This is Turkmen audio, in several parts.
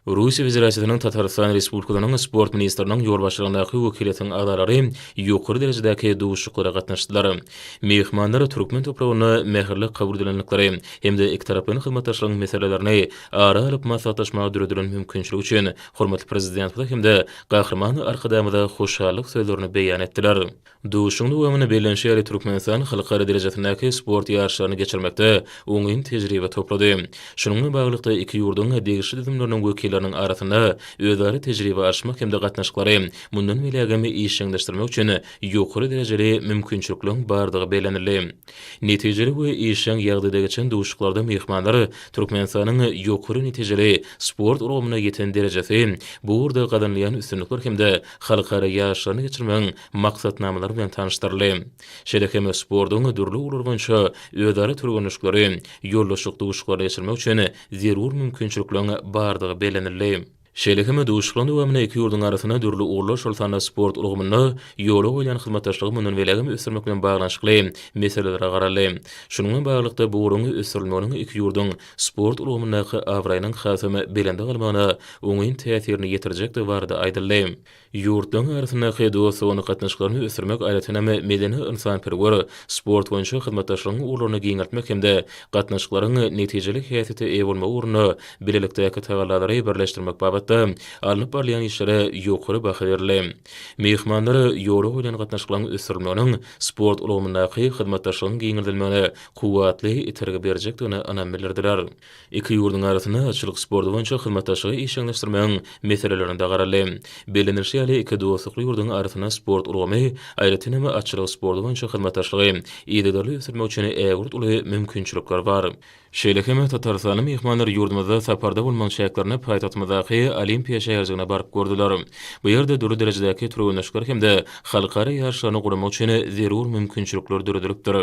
Russiýa Federasiýasynyň Tatarystan Respublikasynyň Sport ministriniň ýolbaşçylygyndaky wekiliýetiň agzalary ýokary derejedäki duşuşyklara gatnaşdylar. Myhmanlar türkmen topragynda mähirli kabul edilendikleri hem-de ikitaraplaýyn hyzmatdaşlygyň meselelerini ara alyp maslahatlaşmaga döredilen mümkinçilik üçin hormatly Prezidentimize hem-de Gahryman Arkadagymyza hoşallyk sözlerini beýan etdiler. Duşuşygyň dowamynda bellenişi ýaly, Türkmenistan halkara derejesindäki sport ýaryşlaryny geçirmekde oňyn tejribe toplady. Şunuň bilen baglylykda, iki ýurduň degişli düzümleriniň wekilleriniň arasynda özara tejribe alyşmak hem-de gatnaşyklary mundan beýlägem işjeňleşdirmek üçin ýokary derejeli mümkinçilikleriň bardygy bellenildi. Netijeli we işjeň ýagdaýda geçen duşuşyklarda myhmanlar Türkmenistanyň ýokary netijeli sport ulgamynda ýeten derejesi, bu ugurda gazanylýan üstünlikler hem-de halkara ýaryşlaryny geçirmegiň maksatnamalary bilen tanyşdyryldy. Şeýle hem sportuň dürli ugurlary boýunça özara türgenleşikleri, ýoldaşlyk duşuşyklaryny geçirmek üçin zerur mümkinçilikleriň bardygy bellenildi. Şeýle hem duşuşyklaryň dowamynda iki ýurduň arasynda dürli ugurlar, şol sanda sport ulgamynda ýola goýlan hyzmatdaşlygy mundan belegem ösdürmek bilen baglanyşykly meselelere garaldy. Şunuň bilen baglylykda, bu ugruň ösdürilmeginiň iki ýurduň sport ulgamyndaky abraýynyň hasam belende galmagyna oňyn täsirini ýetirjekdigi barada aýdyldy. Ýurtlaryň arasyndaky dostlugyn gatnaşyklaryny ösdürmek aýratyn hem medeni-ynsanperwer, sport boýunça hyzmatdaşlygyň ugurlaryny giňeltmek hem-de gatnaşyklaryň netijeli häsiýete eýe bolmagy ugrunda bilelikdäki tagallalary birleşdirmek babatda alnyp barylýan işlere ýokary baha berildi. Myhmanlar ýola goýlan gatnaşyklaryň ösdürilmeginiň sport ulgamyndaky hyzmatdaşlygyň giňeldilmegine kuwwatly itergi berjekdigine ynam bildirdiler. Iki ýurduň arasynda atçylyk sporty boýunça hyzmatdaşlygy işjeňleşdirmegiň meselelerine-de garaldy. Bellenilişi ýaly, iki dostlukly ýurduň arasynda sport ulgamy, aýratyn hem, atçylyk sporty boýunça hyzmatdaşlygy yzygiderli ösdürmek üçin ägirt uly mümkinçilikler bar. Şeýle hem, tatarystanly myhmanlar ýurdumyzda saparda bolmagyň çäklerinde paýtagtymyzdaky Olimpiýa şäherjigine baryp gördüler. Bu ýerde dürli derejedäki türgenleşikler hem-de halkara ýaryşlaryny guramak üçin zerur mümkinçilikler döredilipdir.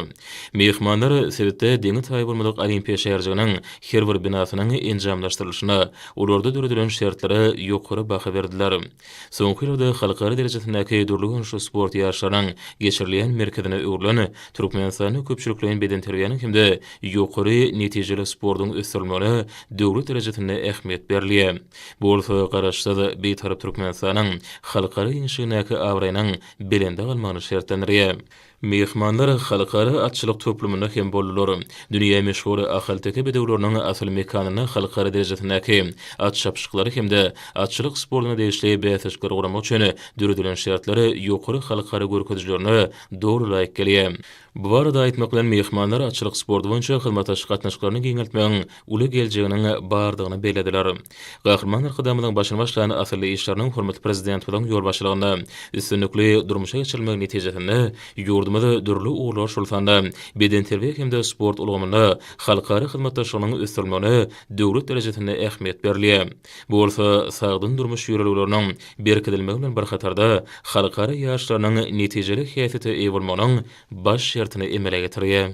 Myhmanlar sebitde deňi taýy bolmadyk Olimpiýa şäherjiginiň her bir binasynyň enjamlaşdyrylyşyna, olarda döredilen şertlere ýokary baha berdiler. Soňky ýyllarda halkara derejesindäki dürli görnüşli sport ýaryşlarynyň geçirilýän merkezine öwrülen Türkmenistanda köpçülikleýin bedenterbiýäniň hem-de ýokary netijeli sportuň ösdürilmegine döwlet derejesinde ähmiýet berilýär. Bu bolsa Garaşsyz, Bitarap Türkmenistanyň halkara giňişligindäki abraýynyň belende galmagyny şertlendirýär. Myhmanlar Halkara atçylyk toplumynda hem boldular. Dünýä meşhur ahalteke bedewleriniň asyl mekanyna halkara derejesindäki at çapyşyklary hem-de atçylyk sportuna degişli bäsleşikleri guramak üçin döredilen şertler ýokary halkara görkezijilerine doly laýyk gelýär. Bu barada aýtmak bilen, myhmanlar atçylyk sporty boýunça hyzmatdaşlyk gatnaşyklaryny giňeltmegiň uly geljeginiň bardygyny bellediler. Gahryman Arkadagymyzyň başyny başlan asylly işleriniň hormatly Prezidentimiziň ýolbaşçylygynda üstünlikli durmuşa geçirilmegi netijesinde ýurdumyz dürli ugurlar, şol sanda bedenterbiýe hem-de sport ulgamynda halkara hyzmatdaşlygynyň ösdürilmegine döwlet derejesinde ähmiýet berilýär. Bu bolsa sagdyn durmuş ýörelgeleriniň berkidilmegi bilen bir hatarda halkara ýaşlarynyň netijeli häsiýete eýe bolmagynyň baş şertini emele getirýär.